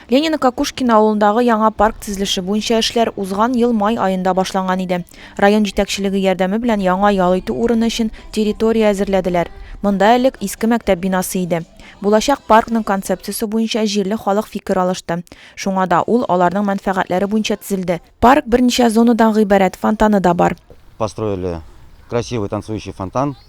Ленина Кокушкина авылындагы яңа парк тезелеше буенча эшләр узган ел май аенда башланган иде. Район җитәкчелеге ярдәме белән яңа ял итү урыны өчен территория әзерләделәр. Монда элек иске мәктәп бинасы иде. Булачак паркның концепциясе буенча җирле халык фикер алышты. Шуңа да ул аларның мәнфәгатьләре буенча тезелде. Парк берничә зонадан гыйбарәт, фонтаны да бар. Построили красивый танцующий фонтан.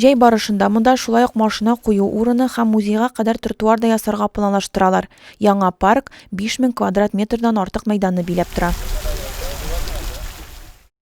Җәй барышында монда шулай ук машина кую урыны һәм музейга кадәр тротуар да ясарга планлаштыралар. Яңа парк 5000 квадрат метрдан артык мәйданны биләп тора.